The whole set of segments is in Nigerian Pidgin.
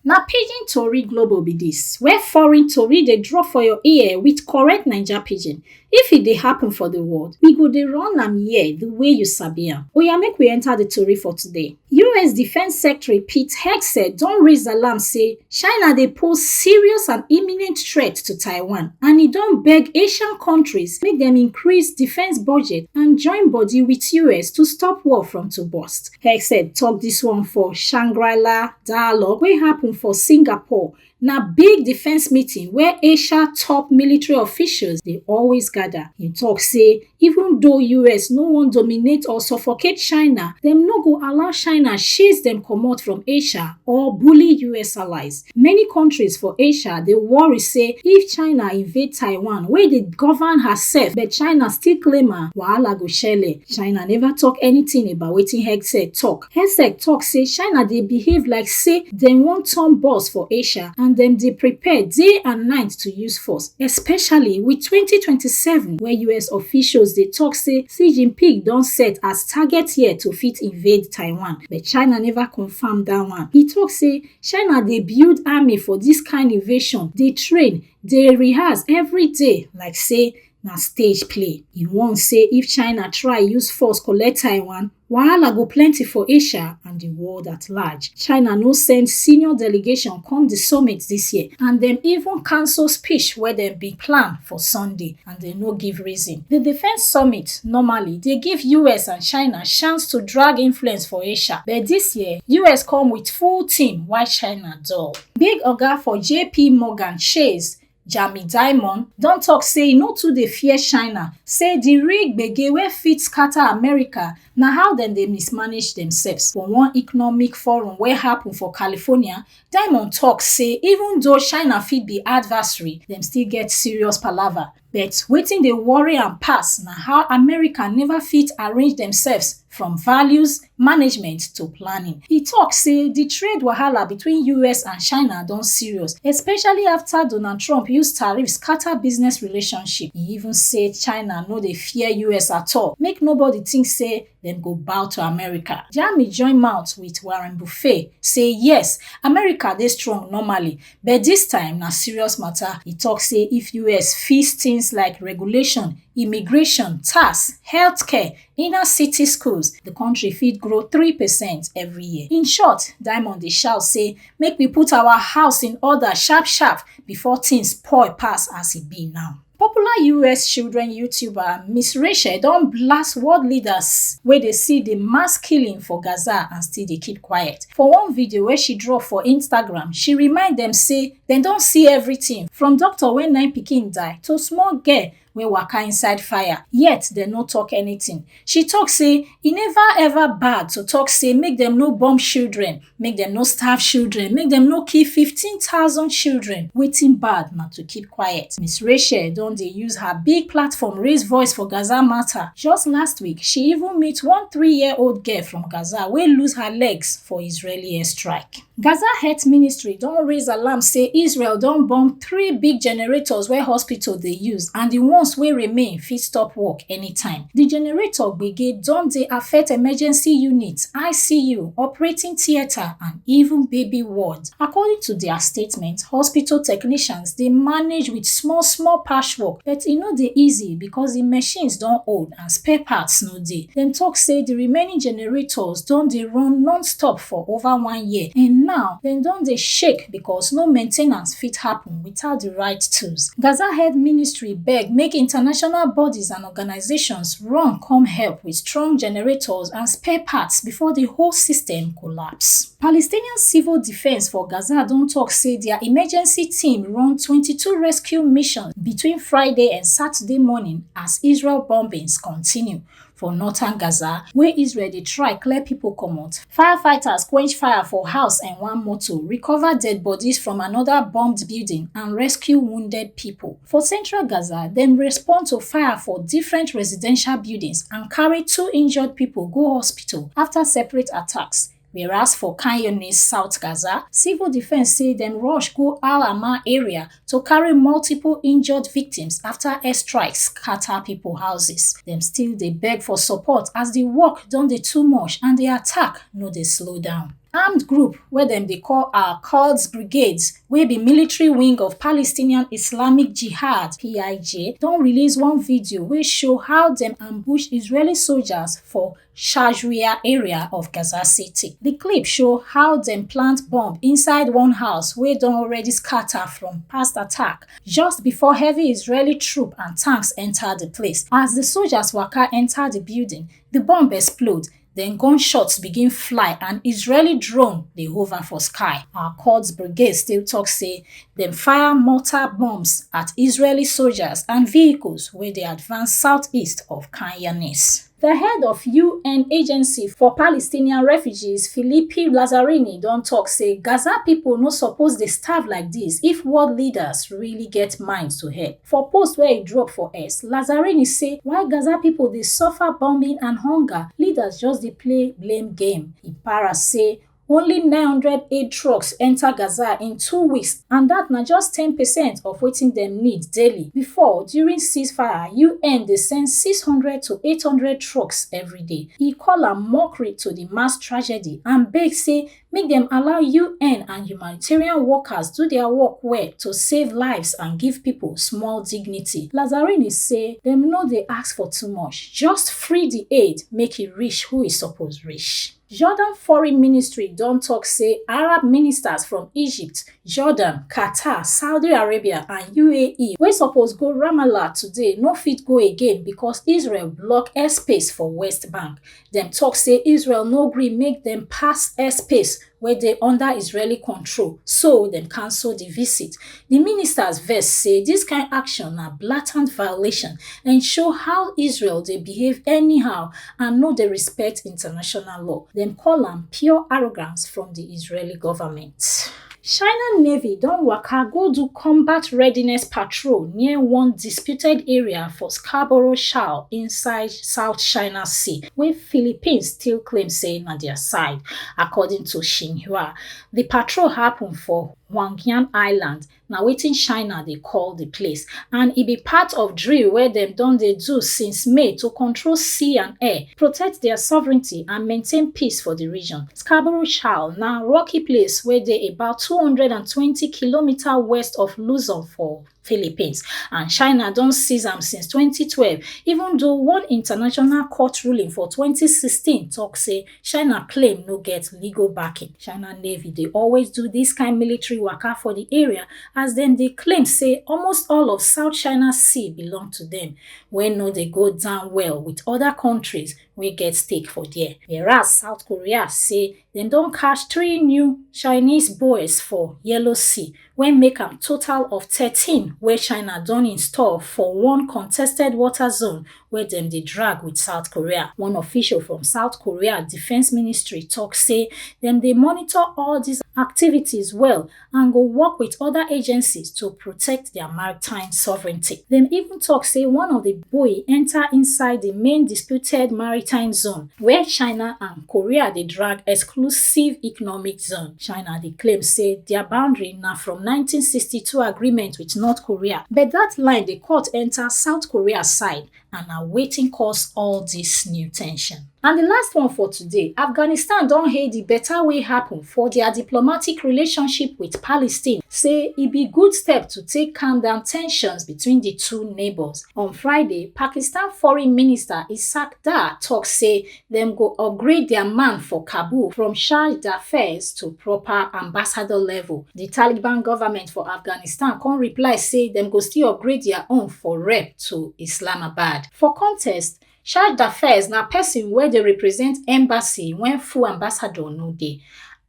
Na pidgin tori global be dis, where foreign tori dey drop for your ear with correct Naija pidgin. If e dey happen for the world, we go dey run am here the way you sabi am. Oya make we enter the tori for today. US Defence Secretary Pete Hegseth don raise alarm say China dey pose serious and imminent threat to Taiwan and e don beg Asian countries make dem increase defence budget and join body with US to stop war from to burst. Hegseth talk dis one for Shangri-La dialogue wey happen for Singapore na big defense meeting where Asia top military officials dey always gather. He talk say even though US no wan dominate or suffocate China, dem no go allow China chase dem comot from Asia or bully US allies. Many countries for Asia dey worry say if China invade Taiwan wey dey govern herself but China still claim am, wahala go shele. China never talk anything about wetin hegseth talk. Hegseth tok say China dey behave like say dem wan turn boss for Asia and dem dey prepare day and night to use force, especially wit 2027 wey US officials dey tok say Xi Jinping don set as target year to fit invade Taiwan, but China neva confam dat one. E tok say China dey build army for dis kain invasion, dey train, dey rehearse every day like say na stage play. E warn say if China try use force collect Taiwan, Wahala go plenty for Asia and di world at large. China no send senior delegation come di summit dis year and dem even cancel speech wey dem bin plan for Sunday and dem no give reason. Di defence summit normally dey give US and China chance to drag influence for Asia but dis year, US come wit full team while China dull. Big oga for JP Morgan Chase Jamie Dimon don tok say e no too dey fear China, say di real gbege wey fit scatter America na how dem dey mismanage themselves. For one economic forum wey happen for California, Dimon tok say even though China fit be adversary, dem still get serious palava. But wetin dey worry am pass na how America never fit arrange themselves from values, management to planning. E tok say di trade wahala between us and china don serious especially afta donald trump use tariff scata business relationship. E even say china no dey fear us at all make nobody think say dem go bow to america. Jami join mouth wit warren buffet say yes america dey strong normally but dis time na serious mata. E tok say if us fix tins like regulation immigration tax healthcare Inner city schools, the country fit grow 3% every year. In short, Diamond dey shout say make we put our house in order sharp sharp before things spoil pass as e be now. Popular US children YouTuber Miss Rachel don blast world leaders wey dey see the mass killing for Gaza and still dey keep quiet. For one video wey she drop for Instagram, she remind dem say dem don see everything from doctor wey nine pikin die to small girl wey waka inside fire yet dem no talk anything she talk say e never ever bad to talk say make dem no bomb children make dem no starve children make dem no kill 15000 children wetin bad na to keep quiet miss rachel don dey use her big platform raise voice for gaza matter just last week she even meet one three year old girl from gaza wey lose her legs for israeli airstrike Gaza Health Ministry don raise alarm say Israel don bomb three big generators wey hospital dey use and di ones wey remain fit stop work anytime. Di generator gbege don dey affect emergency units, ICU, operating theatre and even baby ward. According to dia statement, hospital technicians dey manage wit small small patchwork but e no dey easy because di machines don old and spare parts no dey. Dem talk say the remaining generators don dey run non-stop for over one year and now dem don dey shake because no maintenance fit happen without the right tools. Gaza head ministry beg make international bodies and organizations run come help with strong generators and spare parts before the whole system collapse. Palestinian civil defence for Gaza don tok say dia emergency team run 22 rescue missions between Friday and Saturday morning as Israel bombings continue for northern Gaza, wey Israel dey try clear pipo comot. Firefighters quench fire for house and one motor, recover dead bodies from anoda bombed building and rescue wounded pipo. For central Gaza, dem respond to fire for different residential buildings and carry two injured pipo go hospital afta separate attacks. Whereas for Khan Younis, South Gaza, civil defense say dem rush go Al Aman area to carry multiple injured victims after airstrikes scatter people houses. Dem still dey beg for support as the work don dey too much and the attack no dey slow down. armed group wey dem dey call al quds brigades wey be military wing of palestinian islamic jihad pij don release one video wey show how dem ambush israeli soldiers for Shajria area of Gaza City. Di clip show how dem plant bomb inside one house wey don already scatter from past attack just before heavy Israeli troop and tanks enter di place. As di soldiers waka enter di building, di bomb explode then gunshots begin fly and Israeli drone dey hover for sky. Our Quds brigade still talk say dem fire mortar bombs at Israeli soldiers and vehicles wey dey advance southeast of Khan Younis. The head of UN agency for Palestinian refugees, Philippi Lazzarini, don talk say Gaza people no suppose dey starve like this if world leaders really get mind to help. For post where e drop for X, Lazzarini say while Gaza people dey suffer bombing and hunger, leaders just dey play blame game. E para say Only 900 aid trucks enta Gaza in two weeks and dat na just ten percent of wetin dem need daily. Before, during ceasefire, UN dey send 600 to 800 trucks day. E call am mockery to di mass tragedy and beg say make dem allow UN and humanitarian workers do dia work well to save lives and give pipo small dignity. Lazzarini say dem no dey ask for too much, just free di aid make e reach who e suppose reach. Jordan foreign ministry don talk say Arab ministers from Egypt, Jordan, Qatar, Saudi Arabia and UAE wey suppose go Ramallah today no fit go again because Israel block airspace for West Bank. Dem talk say Israel no gree make dem pass airspace wey dey under Israeli control, so dem cancel the visit. Di ministers vex say dis kain action na blatant violation and show how Israel dey behave anyhow and no dey respect international law. Dem call am pure arrogance from di Israeli government. China Navy don waka go do combat readiness patrol near one disputed area for Scarborough Shoal inside South China Sea, wey Philippines still claim say na dia side, according to Xinhua. Di patrol happun for Huangyan Island na wetin China dey call di place and e be part of drill wey dem don dey do since May to control sea and air, protect dia sovereignty and maintain peace for di region. Scarborough Shoal na rocky place wey dey about two hundred and twenty kilometres west of Luzon for Philippines, and China don seize am since 2012, even though one international court ruling for 2016 talk say China claim no get legal backing. China Navy dey always do this kind military waka for the area as dem dey claim say almost all of South China Sea belong to them, wey no dey go down well with other countries wey get stake for there. Whereas South Korea say Dem don catch three new Chinese boys for Yellow Sea wey make am total of 13 wey China don install for one contested water zone wey dem dey drag with South Korea. One official from South Korea Defence Ministry talk say dem dey monitor all these activities well and go work with other agencies to protect their maritime sovereignty. Dem even talk say one of the buoy enter inside the main disputed maritime zone where China and Korea dey drag exclusive economic zone. China dey claim say their boundary na from 1962 agreement with North Korea, but that line dey cut enter South Korea side and na wetin cause all dis new tension. And di last one for today, Afghanistan don hail di beta wey happen for dia diplomatic relationship wit Palestine, say e be good step to take calm down tensions between di two neighbours. On Friday, Pakistan foreign minister Ishaq Dar tok say dem go upgrade dia man for kabul from charge d'affaires to proper ambassador level di taliban goment for afghanistan come reply say dem go still upgrade dia own for rep to islamabad for contest charge d'affaires na pesin wey dey represent embassy wen full ambassador no dey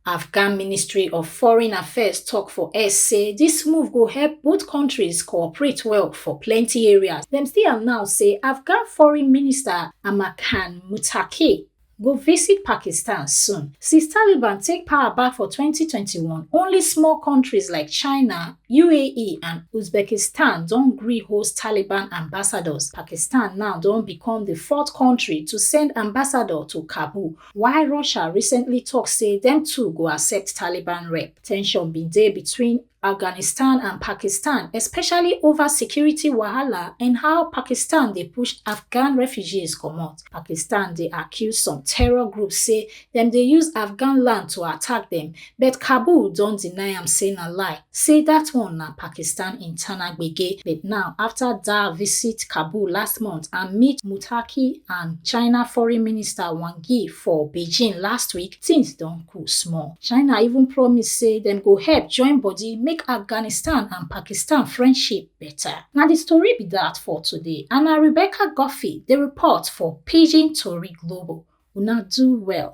Afghan Ministry of Foreign Affairs tok for X say dis move go help both kontris cooperate well for plenty areas. Dem still announce say Afghan Foreign Minister Amir Khan Muttaqi go visit Pakistan soon. Since Taliban take power back for 2021, only small kontris like China, UAE and Uzbekistan don gree host Taliban ambassadors. Pakistan now don become di fourth kontri to send ambassador to Kabul While Russia recently tok say dem too go accept Taliban rep, tension bin dey between Afghanistan and Pakistan, especially over security wahala and how Pakistan dey push Afghan refugees comot. Pakistan dey accuse some terror groups say dem dey use Afghan land to attack dem but kabul don deny am say na lie say dat one na pakistan internal gbege but now afta dar visit kabul last month and meet mutaki and china foreign minister wang yi for beijing last week tins don cool small china even promise say dem go help join body make afghanistan and pakistan friendship better na di story be dat for today and na rebecca goffey dey report for pidgin tori global una do well